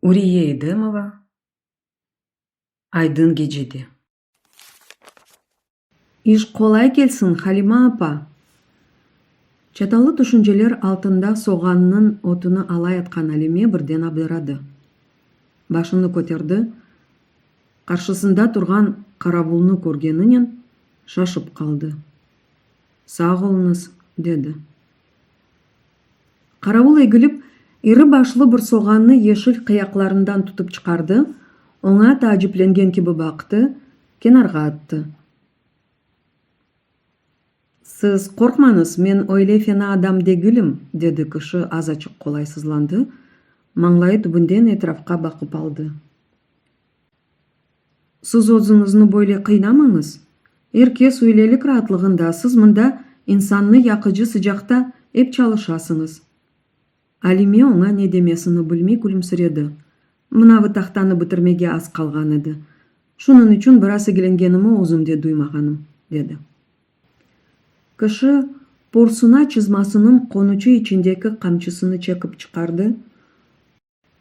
Uriye İdemova, Aydın gecede. İş qolay kelsin, Halima apa! Çatallı tüşünceler altında soğannıñ otunu alayatqan Alime birden abdaradı. Başını köterdi, qarşısında turğan qaravulnı körgeninen şaşıp qaldı. Sağ oluñız, dedi. Qaravul egilip, iri başlı bir soğannı yeşil qıyaqlarından tutıp çıqardı, oña taaciplengen kibi baqtı, kenarğa attı. Siz qorqmañız, men öyle fena adam degilim, dedi kişi azaçıq qolaysızlandı, mañlayı tübünden etrafqa baqıp aldı. Siz özüñizni böyle qıynamañız. Er kes öylelik raatlığında, siz mında insannı yaqıcı sıcaqta ep çalışasıñız. Alime oña ne demesini bilmey külümsiredi. Mınavı tahtanı bitirmege az qalğan edi. Şunıñ içün biraz igilengenimi özüm de duymağanım, dedi. Kişi porsuna çızmasınıñ qonuçı içindeki qamçısını çekip çıqardı.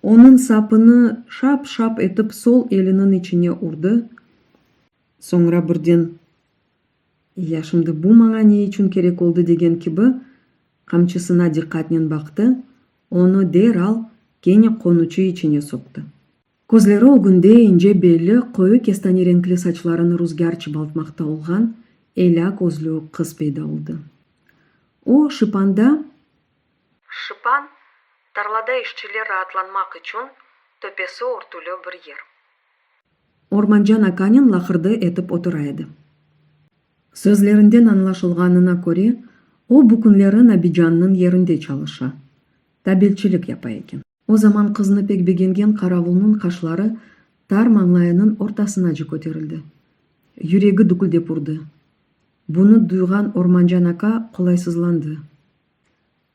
Onıñ sapını şap-şap etip sol eliniñ içine urdı, soñra birden, Ya şimdi bu maña ne içün kerek oldı degen kibi, qamçısına diqqatnen baqtı, onı deral kene qonuçı içine soqtı. Közleri ögünde, ince belli, qoyu kestane renkli saçlarını ruzgâr çıbaltmaqta olğan elâ közlü qız peyda oldı. O, şıpanda. Şıpan, tarlada işçiler raatlanmaq içün töpesi örtülü bir yer. Ormancan akanen laqırdı etip otura edi. Sözlerinden añlaşılğanına köre, o bu künleri Nabicannıñ yerinde çalışa, tabelçilik yapa eken. O zaman qıznı pek begengen qaravulnıñ qaşları tar mañlayınıñ ortasınacı köterildi. Yüregi düküldep urdı. Bunı duyğan Ormancan aka qolaysızlandı.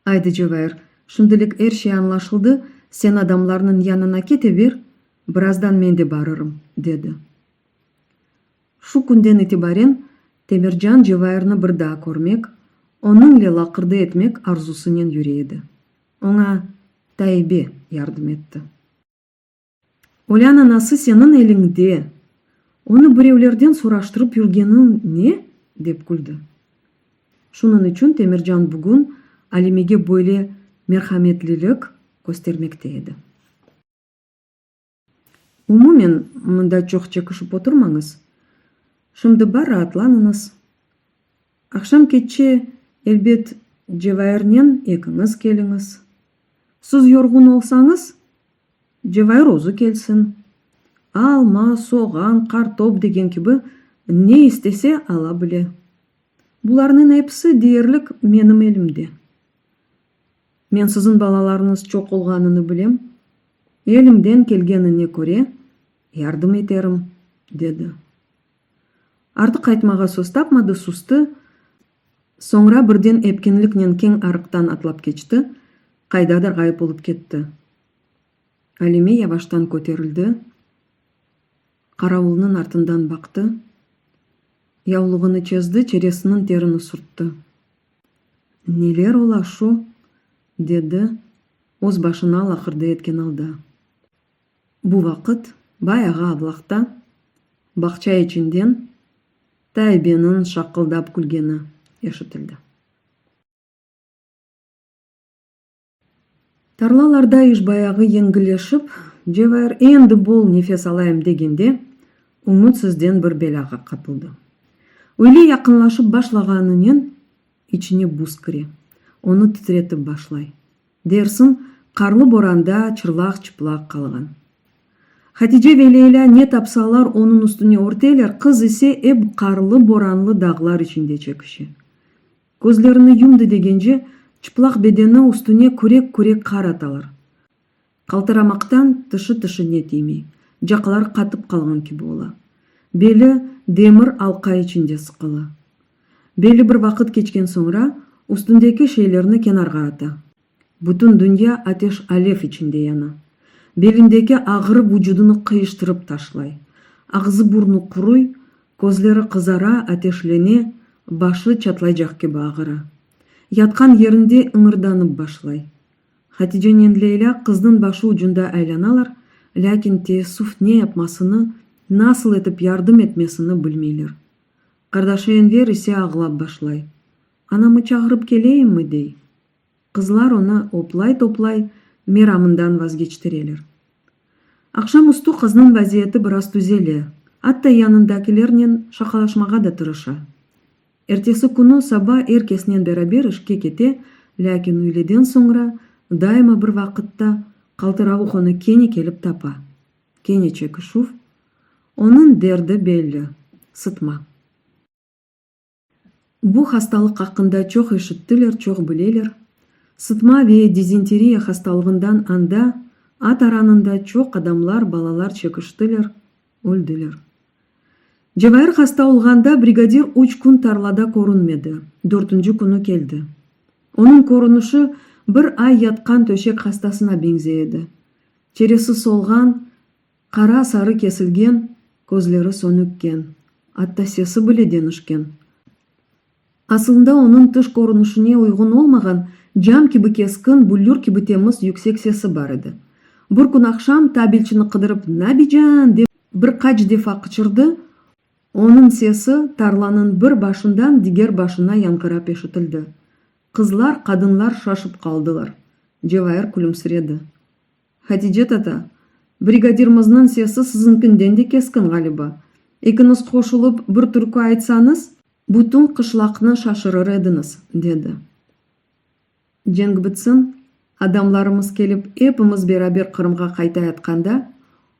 Aydı, Cevahir, şimdilik er şey añlaşıldı, sen adamlarnıñ yanına keteber, birazdan men de barırım, dedi. Şu künden itibaren Temircan Cevahirni bir daa körmek, onıñle laqırdı etmek arzusınen yüre edi. Oña Taibe yardım etti. Olân anası seniñ eliñde, onı birevlerden soraştırıp yürgeniñ ne? dep küldi. Şunıñ içün Temircan bugün Alimege böyle merhametlilik köstermekte edi. Umumen, mında çoq çekişip oturmañız. Şimdi bar raatlanıñız. Aqşam keççe, elbet, Cevairnen ekiñiz keliñiz. Siz yorğun olsañız, Cevahir özü kelsin. Alma, soğan, qartop degen kibi ne istese ala bile. Bularnıñ episi deyerlik menim elimde. Men siziñ balalarıñız çoq olğanını bilem, elimden kelgenine köre yardım eterim, dedi. Artıq aytmağa söz tapmadı, sustı, Soñra birden epkinliknen keñ arıqtan atlap keçti, qaydadır ğayıp olıp ketti. Alime yavaştan köterildi, qaravulnıñ artından baqtı, yavluğını çezdi, çeresiniñ terini sürtti. Neler ola şu? dedi öz başına laqırdı etken alda. Bu vaqıt bay ağa avlaqta, bağça içinden Taybeniñ şaqıldap külgeni eşitildi. Tarlalarda iş bayağı yeñilleşip, Cevahir endi bol nefes alayım degende, ümütsizden bir belâğa qapıldı. Öyle yaqınlaşıp başlağanınen içine buz kire, onı titretip başlay. Dersiñ, qarlı boranda çırlaq-çıplaq qalğan. Hatice ve Leyla ne tapsalar onıñ üstüne örteler, qız ise ep qarlı-boranlı dağlar içinde çekişe. Közlerini yumdı degence, çıplaq bedeni üstüne kürek-kürek qar atalar. Qaltıramaqtan tışı tışıñe tiymey, caqlar qatıp qalğan kibi ola. Beli demir alqa içinde sıqıla. Belli bir vaqıt keçken soñra üstündeki şeylerni kenarğa ata. Bütün dünya ateş-alev içinde yana. Belindeki ağırı vucudunı qıyıştırıp taşlay. Ağzı-burnu quruy, közleri qızara, ateşlene, başı çatlaycaq kibi ağıra. Yatqan yerinde ıñırdanıp başlay. Haticennen Leyla qıznıñ başı ucunda aylanalar, lâkin teessüf ne yapmasını, nasıl etip yardım etmesini bilmeyler. Qardaşı Enver ise ağlap başlay. Anamı çağırıp keleyimmi? dey. Qızlar onı oplay-toplay meramından vazgeçtireler. Aqşam üstü qıznıñ vaziyeti biraz tüzele, atta yanındakilernen şaqalaşmağa da tırışa. Ertesi künü saba er kesnen beraber işke kete, lâkin üyleden soñra daima bir vaqıtta qaltıravuq onı kene kelip tapa. Kene çekişüv. Onıñ derdi belli, sıtma. Bu hastalıq aqqında çoq eşittiler, çoq bileler. Sıtma ve dizenteriya hastalığından anda, a taranında çoq adamlar, balalar çekiştiler, öldiler. Cevahir hasta olğanda brigadir üç kün tarlada körünmedi, dörtünci künü keldi. Onıñ körünişi bir ay yatqan töşek hastasına beñzey edi. Çeresi solğan, qara-sarı kesilgen, közleri sönükken, atta sesi bile denişken. Asılında onıñ tış körünişine uyğun olmağan, cam kibi keskin, büllür kibi temiz yüksek sesi bar edi. Bir kün aqşam tabelçini qıdırıp Nabican! dep bir qaç defa qıçırdı, onıñ sesi tarlanıñ bir başından diger başına yañğırap eşitildi. Qızlar, qadınlar şaşıp qaldılar. Cevahir külümsiredi. Hatice tata, brigadirmizniñ sesi sizinkinden de keskin, ğaliba. Ekiñiz qoşulıp, bir türkü aytsañız. Bütün qışlaqnı şaşırır ediñiz, dedi. Cenk bitsin, adamlarımız kelip, epimiz beraber Qırımğa qaytayatqanda,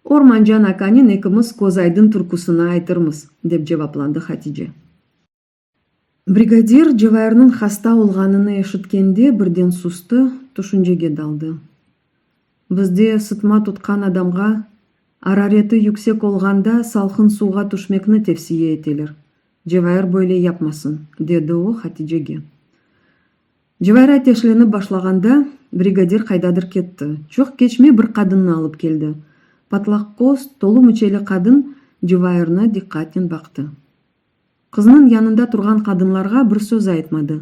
Ormancan akanıñ ekimiz közaydın türküsini aytırmız, dep cevaplandı Hatice. Brigadir, Cevayırnıñ hasta olğanını eşitkende, birden sustı, tüşüncege daldı. Bizde sıtma tutqan adamğa, arareti yüksek olğanda, salqın suvğa tüşmekni tevsiye eteler. Cevayır böyle yapmasın, dedi o, Haticege. Cevayır ateşlenip başlağanda, brigadir qaydadır ketti. Çoq keçmey bir qadınnı alıp keldi. Patlaqqoz, tolu müçeli qadın Cevayırna diqqatnen baqtı. Qıznıñ yanında turğan qadınlarğa bir söz aytmadı.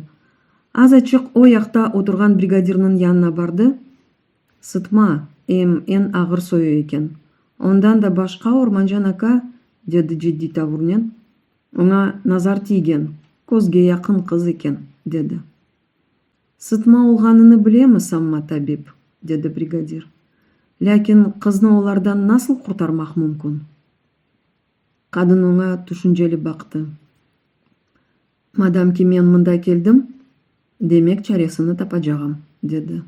Azaçıq o yaqta oturğan brigadirniñ yanına bardı, Sıtma, em, eñ ağır soyu eken. Ondan da başqa, Ormancan aka, dedi ciddiy tavurnen, oña nazar tiygen, közge yaqın qız eken, dedi. Sıtma olğanını bilemi, sanma, tabip, dedi brigadir. Lâkin qıznı olardan nasıl qurtarmaq mümkün? Qadın oña tüşünceli baqtı. Madam ki men mında keldim, demek çaresini tapacağım, dedi.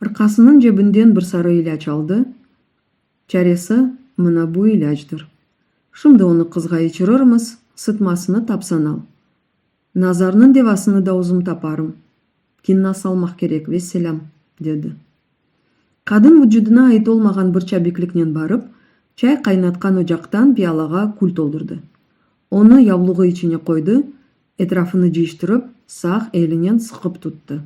Rqasınıñ cebinden bir sarı ilâc aldı, Çaresi mına bu ilâcdır. Şimdi onı qızğa içirirmiz, sıtmasını tapsan al. Nazarnıñ devasını da özüm taparım. Kinna salmaq kerek, vesselâm, dedi. Qadın vucudına ait olmağan bir çabikliknen barıp, çay qaynatqan ocaqtan piyalağa kül toldurdı. Onı yavluğı içine qoydı, etrafını cıyıştırıp, sağ elinen sıqıp tuttı.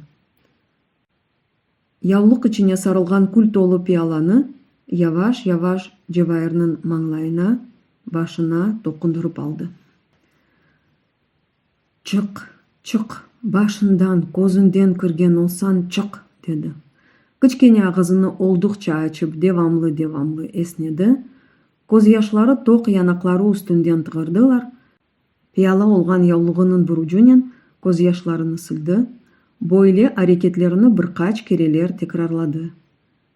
Yavluq içine sarılğan kül tolu piyalanı yavaş-yavaş Cevairniñ mañlayına, başına toqundırıp aldı. Çık, çık, başından, közünden kirgen olsañ, çık! dedi. Kiçkene ağızını olduqça açıp devamlı-devamlı esnedi, közyaşları toq yanaqları üstünden tığırdılar, piyala olğan yavluğınıñ bir ucunen közyaşlarını sildi, böyle areketlerini bir qaç kereler tekrarladı.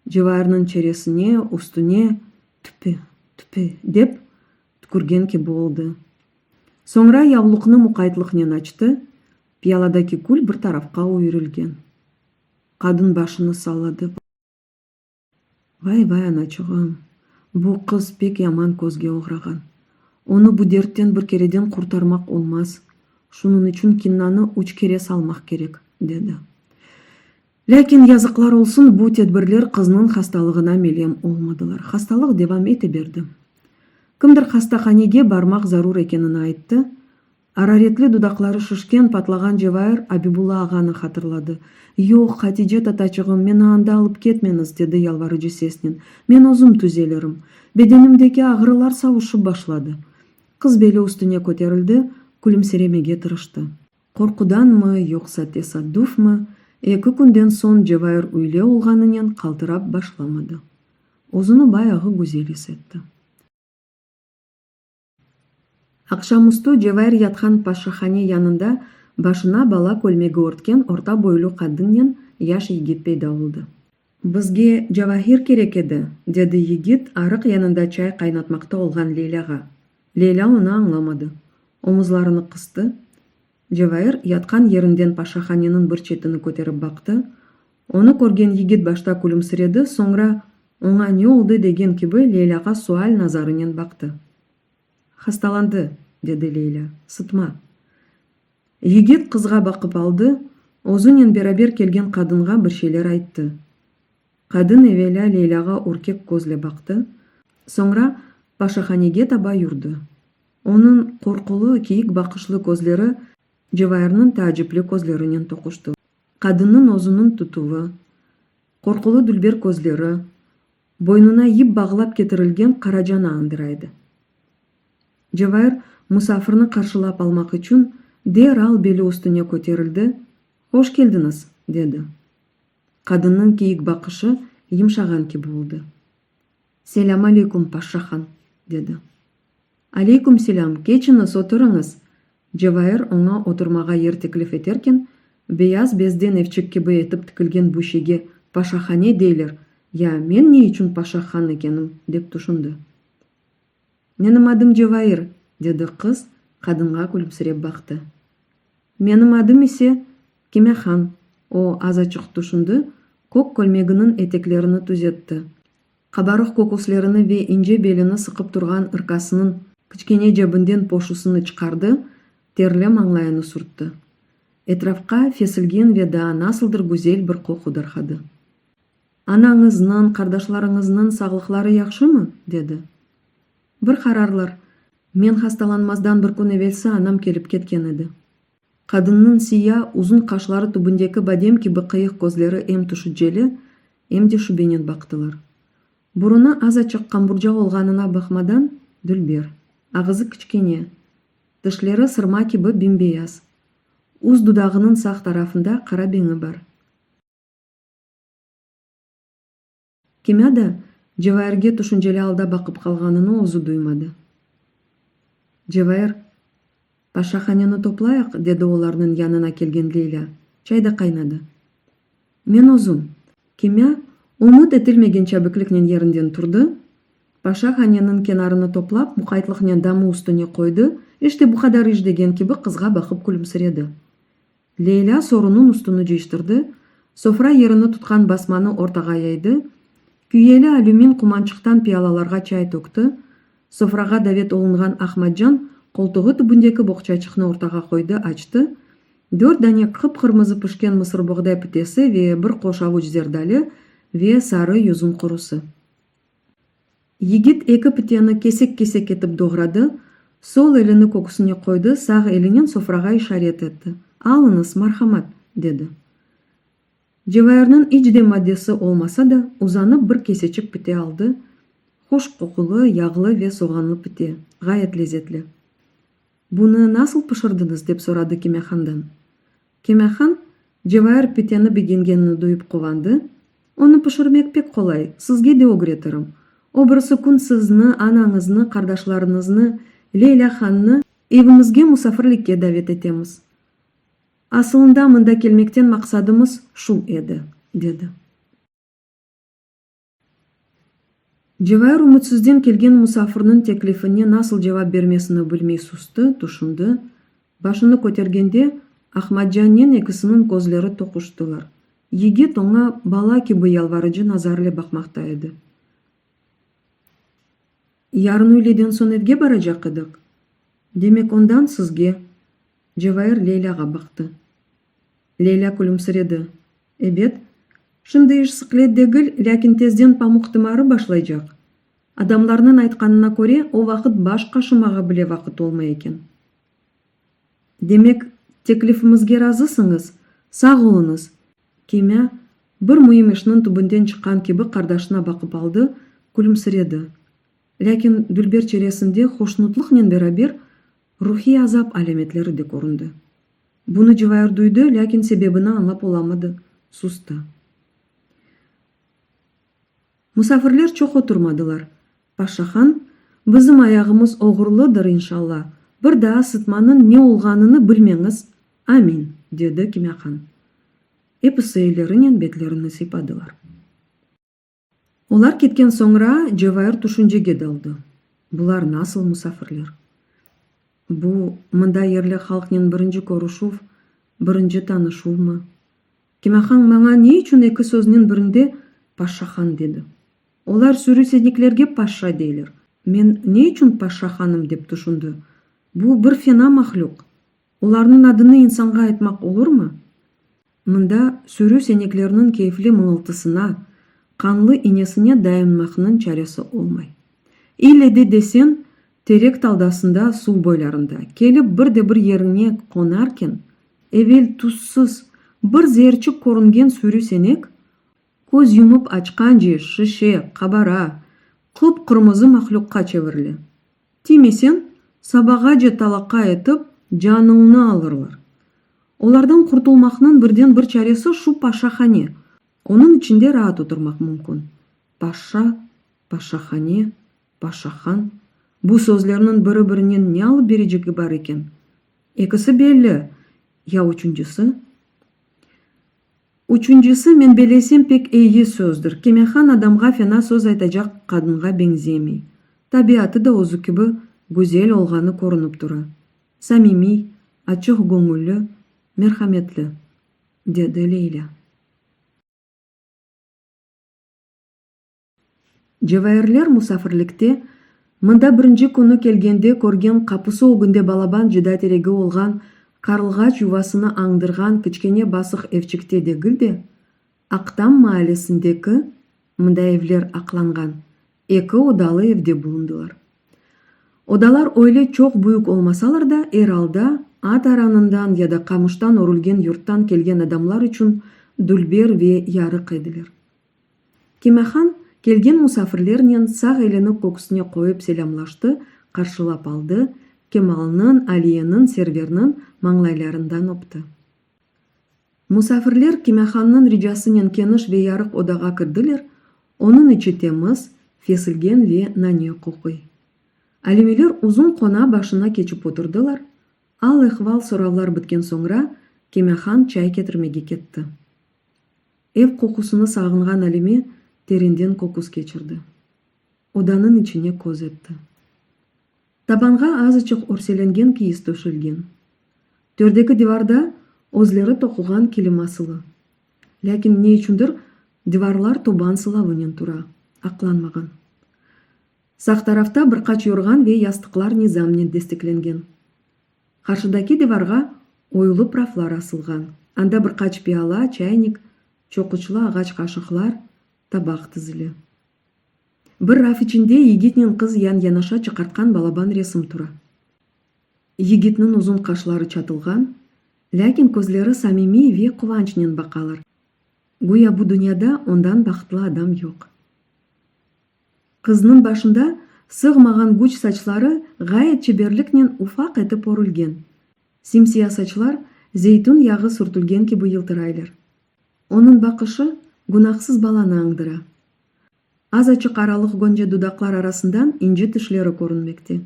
Cevahirniñ çeresine, üstüne, Tüpe, tüpe! dep tükürgen kibi oldı. Soñra yavluqnı muqaytlıqnen açtı, piyaladaki kül bir tarafqa üyrilgen. Qadın başını salladı. Vay, vay, anaçığım, bu qız pek yaman közge oğrağan. Onı bu dertten bir kereden qurtarmaq olmaz, şunıñ içün kinnanı üç kere salmaq kerek, dedi. Lâkin, yazıqlar olsun, bu tedbirler qıznıñ hastalığına melem olmadılar. Hastalıq devam ete berdi. Kimdir hastahanege barmaq zarur ekenini ayttı. Araretli dudaqları şişken, patlağan Cevair Abibulla ağanı hatırladı. Yoq, Hatice tataçığım, meni anda alıp ketmeñiz, dedi yalvarıcı sesnen. Men özüm tüzelirim. Bedenimdeki ağrılar savuşıp başladı. Qız beli üstüne köterildi, külümseremege tırıştı. Qorqudanmı, yoqsa tesaddufmı, eki künden soñ Cevayır üyle olğanınen qaltırap başlamadı. Özüni bayağı güzel is etti. Aqşamüstü Cevayır yatqan paşahane yanında başına bala kölmegi örtken orta boylu qadınnen yaş yigit peyda oldı. Bizge Cavahir kerek edi, dedi yigit arıq yanında çay qaynatmaqta olğan Leylâğa. Leylâ onı añlamadı. Omuzlarını qıstı. Cevair yatqan yerinden paşahaneniñ bir çetini köterip baqtı. Onı körgen yigit başta külümsiredi, soñra oña ne oldı degen kibi Leylâğa sual nazarınen baqtı. Hastalandı, dedi Leylâ, sıtma. Yigit qızğa baqıp aldı, özünen beraber kelgen qadınğa bir şeyler ayttı. Qadın evelâ Leylâğa ürkek közle baqtı, soñra paşahanege taba yürdi. Onıñ qorqulı, kiyik baqışlı közleri Cevayırnıñ taacipli közlerinen toquştı. Qadınnıñ özüniñ tutuvı, qorqulı dülber közleri, Boynuna yip bağlap ketirilgen qaracanı añdıraydı. Cevair musafirni qarşılap almaq içün deral beli üstüne köterildi, Hoş keldiñiz! dedi. Qadınnıñ kiyik baqışı yımşağan kibi oldı. Selâm aleykum, paşşahan! dedi. Aleyküm selâm, keçiñiz, oturıñız! Cevair oña oturmağa yer teklif eterken, beyaz bezden evçik kibi etip tikilgen bu şeyge paşahane deyler, ya men ne içün paşa han ekenim, dep tüşündi. Menim adım Cevair, dedi qız, qadınğa külümsirep baqtı. Menim adım ise, Kimehan, o azaçıq tüşündi, kök kölmeginiñ eteklerini tüzetti, Qabarıq köküslerini ve ince belini sıqıp turğan ırkasınıñ kiçkene cebinden poşusını çıqardı, terli mañlayını sürtti. Etrafqa fesilgin ve daa nasıldır güzel bir qoqu darqadı. Anañıznıñ, qardaşlarıñıznıñ sağlıqları yahşımı? dedi. Bir qararlar, men hastalanmazdan bir kün evelsi anam kelip ketken edi. Qadınnıñ siya, uzun qaşları tübündeki badem kibi qıyıq közleri em tüşüceli, em de şübenen baqtılar. Burunı azaçıq qamburca olğanına baqmadan, dülber. Ağızı kiçkene. Tişleri sırma kibi bimbeyaz. Üst dudağınıñ sağ tarafında qara beñi bar. Kimâ da Cevairge tüşünceli alda baqıp qalğanını özü duymadı. Cevair, Paşahaneni toplayıq, dedi olarnıñ yanına kelgen Leylâ. Çay da qaynadı. Men özüm. Kimâ ümüt etilmegen çabikliknen yerinden turdı, Paşahaneniñ kenarını toplap, muqaytlıqnen damı üstüne qoydı, işte bu qadar iş degen kibi qızğa baqıp külümsiredi. Leyla sorunın üstüni cıyştırdı, sofra yerini tutqan basmanı ortağa yaydı, küyeli alümin qumançıqtan piyalalarğa çay tökti, sofrağa davet olunğan Ahmadcan qoltuğı tübündeki boğçaçıqnı ortağa qoydı, açtı, dört dane qıp-qırmızı pişken mısırboğday pitesi ve bir qoş avuç zerdali ve sarı yüzüm qurusı. Yigit eki piteni kesek-kesek etip doğradı, sol elini köküsine qoydı, sağ elinen sofrağa işaret etti. Alıñız, marhamat! dedi. Cevahirniñ iç de maddesi olmasa da, uzanıp bir keseçik pite aldı, hoş qoqulı, yağlı ve soğanlı pite, ğayet lezetli. Bunı nasıl pişirdiñiz? dep soradı Kemâhandan. Kemâhan, Cevair piteni begengenini duyıp quvandı, Onı pişirmek pek qolay, sizge de ögreterim. O birisi kün sizni, anañıznı, qardaşlarıñıznı, Leylâ hannı, evimizge musafirlikke davet etemiz. Asılında mında kelmekten maqsadımız şu edi, dedi. Cevahir ümütsizden kelgen musafirniñ teklifine nasıl cevap bermesini bilmey susti, tüşündi. Başını kötergende, Ahmadcannen ekisiniñ közleri toquştılar. Yigit oña bala kibi yalvarıcı nazarle baqmaqta edi. Yarın üyleden soñ evge baracaq ediq. Demek, ondan sizge? Cevahir Leylâğa baqtı. Leyla külümsiredi. Ebet, şimdi iş sıqlet degil, lâkin tezden pamuq tımarı başlaycaq. Adamlarnıñ aytqanına köre, o vaqıt baş qaşımağa bile vaqıt olmay eken. Demek, teklifimizge razısıñız? Sağ oluñız! Kemâ, bir müim işniñ tübünden çıqqan kibi qardaşına baqıp aldı, külümsiredi. Lâkin dülber çeresinde hoşnutlıqnen beraber ruhiy azap alâmetleri de köründi. Bunı Cıvayır duydı, lâkin sebebini añlap olamadı, sustı. Musafirler çoq oturmadılar. Paşahan, Bizim ayağımız oğurlıdır, inşalla, bir daa sıtmanıñ ne olğanını bilmeñiz, amin! dedi Kimâhan. Episi ellerinen betlerini sıypadılar. Olar ketken soñra Cevair tüşüncege daldı, Bular nasıl musafirler? Bu, mında yerli halqnen birinci körüşüv, birinci tanışuvmı? Kimehan maña ne içün eki söznen birinde Paşşahan dedi? Olar sürüseniklerge paşşa deyler, men ne içün Paşşahanım dep tüşündi? Bu, bir fena mahlüq! Olarnıñ adını insanğa aytmaq olurmı? Mında sürü seneklerniñ keyfli mıñıltısına, qanlı iñesine dayınmaqnıñ çaresi olmay. İlle de deseñ, terek taldasında suv boylarında, kelip bir de bir yeriñe qonarken, evel tuzsız, bir zeerçik körüngen sürü senek, köz yumıp açqance şişe, qabara, qıp-qırmızı mahluqqa çevirile. Tiymesen, sabağace talaqa etip, canıñnı alırlar. Olardan qurtulmaqnıñ birden-bir çaresi şu paşahane. Onıñ içinde raat oturmaq mümkün. Paşa, paşahane, paşahan, bu sözlerniñ biri-birinen ne alıp berecigi bar eken? Ekisi belli, ya üçüncisi? Üçüncisi, men belesem, pek eyi sözdir. Kemehan adamğa fena söz aytacaq qadınğa beñzemey. Tabiatı da özü kibi güzel olğanı körünip tura. Samimiy, açıq göñülli, merhametli, dedi Leylâ. Cevahirler musafirlikte, mında birinci künü kelgende körgen qapusı ögünde balaban cıda teregi olğan qarlğaç yuvasını añdırğan kiçkene basıq evçikte degil de, Aqtam maalesindeki, mında evler aqlanğan, eki odalı evde bulundılar. Odalar öyle çoq büyük olmasalar da, er alda, at aranından ya da qamıştan örülgen yurttan kelgen adamlar içün dülber ve yarıq ediler. Kemahan, kelgen musafirlernen sağ elini köksüne qoyıp selâmlaştı, qarşılap aldı, Kemalnıñ, Aliyeniñ, Serverniñ mañlaylarından öpti. Musafirler Kemahannıñ ricasınen keniş ve yarıq odağa kirdiler, onıñ içi temiz, fesilgen ve nane qoquy. Alimiler uzun qona başına keçip oturdılar, al-ehval soravlar bitken soñra, Kemahan çay ketirmege ketti. Ev qoqusını sağınğan Alime terinden qoqus keçirdi. Odanıñ içine köz etti. Tabanğa azıçıq örselengen kiyiz töşelgen. Tördeki divarda özleri toquğan kilim asılı. Lâkin ne içündir divarlar toban sılavınen tura, aqlanmağan. Sağ tarafta bir qaç yorğan ve yastıqlar nizamnen desteklengen. Qarşıdaki divarğa oyulı praflar asılğan, anda bir qaç piala, çaynik, çoquçlı ağaç qaşıqlar, tabaq tizili. Bir raf içinde yigitnen qız yan-yanaşa çıqartqan balaban resim tura. Yigitniñ uzun qaşları çatılğan, lâkin közleri samimiy ve quvançnen baqalar, güya bu dünyada ondan bahıtlı adam yoq. Qıznıñ başında sığmağan güç saçları ğayet çeberliknen ufaq etip orülgen. Simsiya saçlar zeytün yağı sürtülgen kibi yıltıraylar. Onıñ baqışı günahsız balanı añdıra. Az açıq aralıq gönce dudaqlar arasından ince tişleri körünmekte.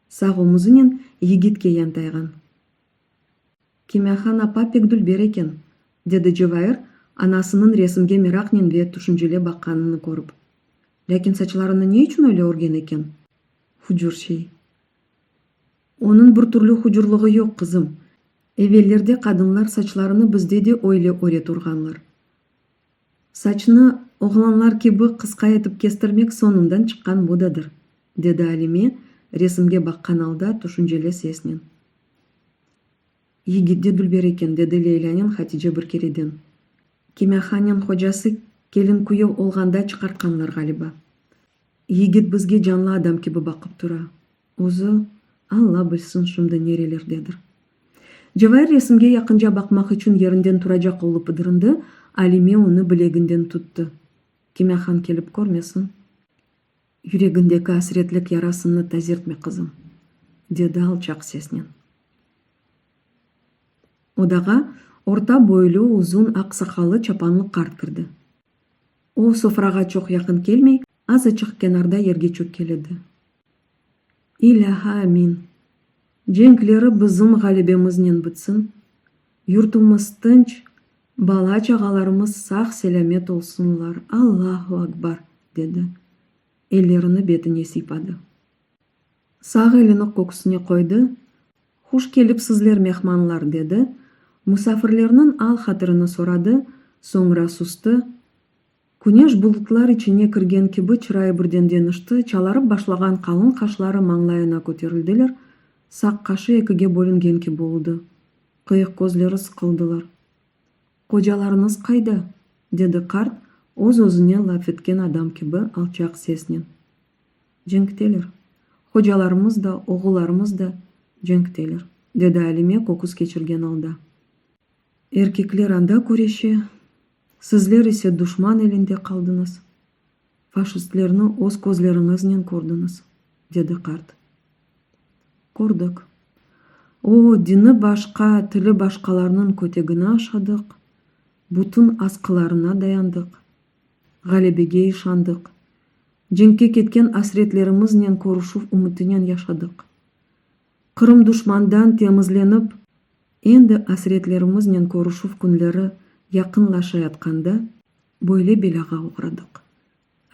Sağ omuzınen yigitke yantayğan. Kimyahan apa pek dülber eken, dedi Cevair, anasınıñ resimge meraqnen ve tüşünceli baqqanını körip. Lâkin saçlarını ne içün öyle örgen eken? Hucur şey. Onıñ bir türlü hucurlığı yoq, qızım. Evellerde qadınlar saçlarını bizde de öyle öre turğanlar. Saçnı oğlanlar kibi qısqa etip kestirmek soñundan çıqqan modadır, dedi Alime resimge baqqan alda tüşünceli sesnen. Yigit de dülber eken, dedi Leylânen Hatice bir kereden. Kimâhanen hocası kelin-küyev olğanda çıqartqanlar ğaliba. Yigit bizge canlı adam kibi baqıp tura. Özü, Alla bilsin, şimdi nerelerdedir. Cevahir resimge yaqınca baqmaq içün yerinden turacaq olıp ıdırındı, Alime onı bileginden tuttı. Kimâhan kelip körmesin. Yüregindeki asretlik yarasını tazertme, qızım, dedi alçaq sesnen. Odağa orta boylu, uzun aq saqallı çapanlı qart kirdi. O, sofrağa çoq yaqın kelmey, azaçıq kenarda yerge çökkeledi. İlâhi amin! Cenkleri bizim ğalibemiznen bitsin, yurtumız tınç, bala-çağalarımız sağ-selâmet olsunlar, Allahu Akbar! dedi. Ellerini betine siypadı. Sağ elini köksüne qoydı, Huş kelipsizler, mehmanlar! dedi, musafirlerniñ al-hatirini soradı, soñra sustı, Küneş bulutlar içine kirgen kibi çırayı birden deñişti, çalarıp başlağan qalın qaşları mañlayına köterildiler, saq qaşı ekige bölüngen kibi oldı. Qıyıq közleri sıqıldılar. Qocalarıñız qayda? dedi qart, öz-özüne laf etken adam kibi alçaq sesnen. Cenkteler. Hocalarımız da, oğullarımız da cenkteler, dedi Alime köküs keçirgen alda. Erkekler anda küreşe, sizler ise duşman elinde qaldıñız, faşistlerni öz közleriñiznen kördiñiz, dedi qart. Kördik. O, dini başqa, tili başqalarnıñ kötegini aşadıq, bütün asqılarına dayandıq, ğalebege işandıq, cenkke ketken asretlerimiznen körüşüv ümütinen yaşadıq. Qırım duşmandan temizlenip, endi asretlerimiznen körüşüv künleri yaqınlaşayatqanda böyle belâğa oğradıq.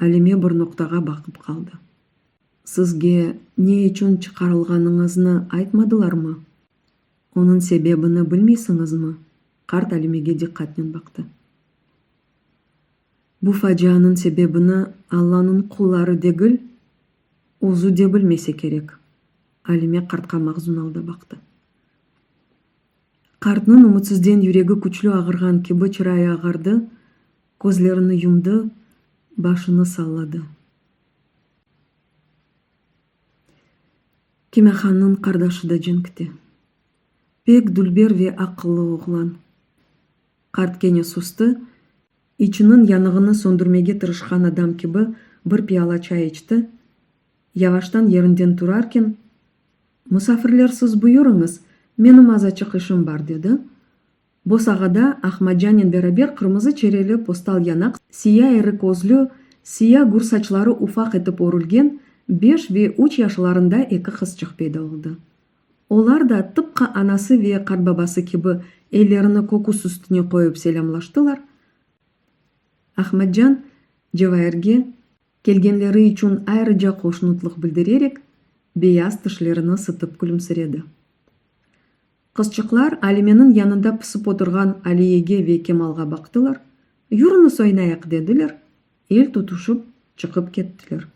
Alime bir noqtağa baqıp qaldı. Sizge ne içün çıqarılğanıñıznı aytmadılarmı? Onıñ sebebini bilmeysiñizmi? Qart Alimege diqqatnen baqtı. Bu facianıñ sebebini Allanıñ qulları degil, Özü de bilmese kerek. Alime qartqa mahzun alda baqtı. Qartnıñ ümütsizden yüregi küçlü ağırğan kibi çırayı ağardı, közlerini yumdı, başını salladı. Kimâhannıñ qardaşı da cenkte. Pek dülber ve aqıllı oğlan. Qart kene sustı, İçiniñ yanığını söndürmege tırışqan adam kibi bir piyala çay içti, yavaştan yerinden turarken, Musafirler siz buyurıñız, menim azaçıq işim bar, dedi. Bosağada Ahmadcanen beraber qırmızı çereli postal yanaq, siya eri közlü, siya gür saçları ufaq etip örülgen beş ve üç yaşlarında eki qızçıq peyda oldı. Olar da tıpqı anası ve qartbabası kibi ellerini köküs üstüne qoyıp selâmlaştılar. Ahmetcan Cevahirge kelgenleri içün ayrıca qoşnutlıq bildirerek, beyaz tişlerini sıtıp külümsiredi. Qızçıqlar Alimeniñ yanında pısıp oturğan Aliyege ve Kemalğa baqtılar, Yürüñiz oynayıq, dediler, el tutuşıp çıqıp kettiler.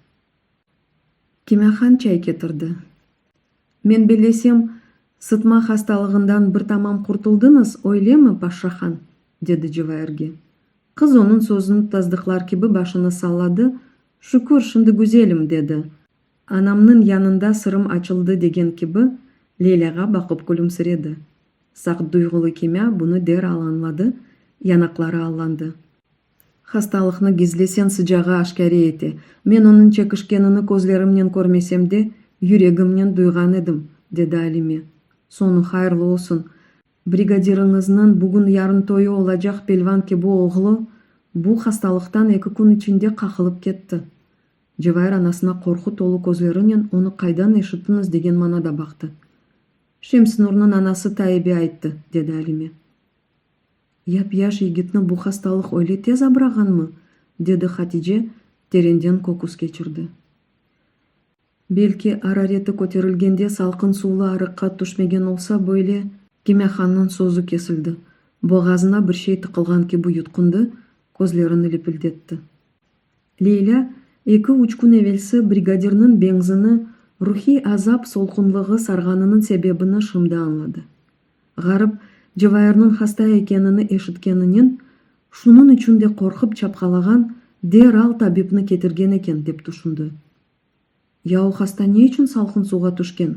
Kimâhan çay ketirdi. Men bellesem, sıtma hastalığından bir tamam qurtuldıñız, öylemi, paşşahan? dedi civaerge. Qız onıñ sözüni tasdıqlar kibi başını salladı, Şükür, şimdi güzelim, dedi. Anamnıñ yanında sırım açıldı degen kibi, Leylâğa baqıp külümsiredi. Saqduyğulı Kimâ bunı deral añladı, yanaqları allandı. Hastalıqnı gizlesen, sıcağı aşkâre ete. Men onıñ çekişkenini közlerimnen körmesem de, yüregimnen duyğan edim, dedi Alime. Soñu hayırlı olsun. Brigadiriñizniñ bugün-yarın toyu olacaq pelvan kibi oğlu bu hastalıqtan eki kün içinde qaqılıp ketti. Cevahir anasına qorqu tolu közlerinen onı qaydan eşittiñiz degen manada baqtı. Şemsnurnıñ anası Taibe ayttı, dedi Alime. Yap-yaş yigitni bu hastalıq öyle tez abrağanmı? dedi Hatice terenden köküs keçirdi. Belki, arareti köterilgende salqın suvlı arıqqa tüşmegen olsa, böyle. Kimâhannıñ sözü kesildi. Boğazına bir şey tıqılğan kibi yutqundı, közlerini lepildetti. Leylâ, eki-üç kün evelsi brigadirniñ benzini, ruhiy azap solğunlığı sarğanınıñ sebebini şimdi añladı. Ğarip, Cevayırnıñ hasta ekenini eşitkeninen, şunıñ içün de qorqıp çapqalağan, deral tabipni ketirgen eken, dep tüşündi. Ya o hasta ne içün salqın suvğa tüşken?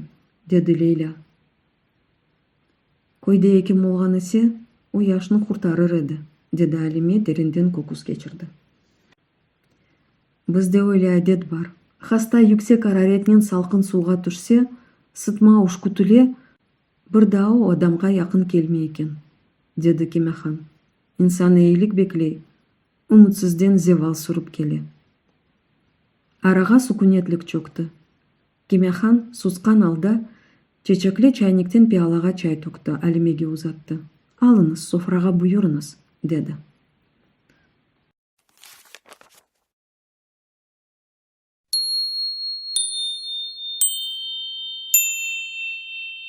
dedi Leylâ. Köyde ekim olğan ise, o yaşnı qurtarır edi, dedi Alime derinden köküs keçirdi. Bizde öyle adet bar. Hasta yüksek araretnen salqın suvğa tüşse, sıtma üşkütile, Bir daa o adamğa yaqın kelmey eken, dedi Kemehan. İnsan eyilik bekley, ümütsizden zeval sürip kele. Arağa sukünetlik çökti. Kemehan, susqan alda, çeçekli çaynikten piyalağa çay tökti, Alimege uzattı. Alıñız, sofrağa buyurıñız, dedi.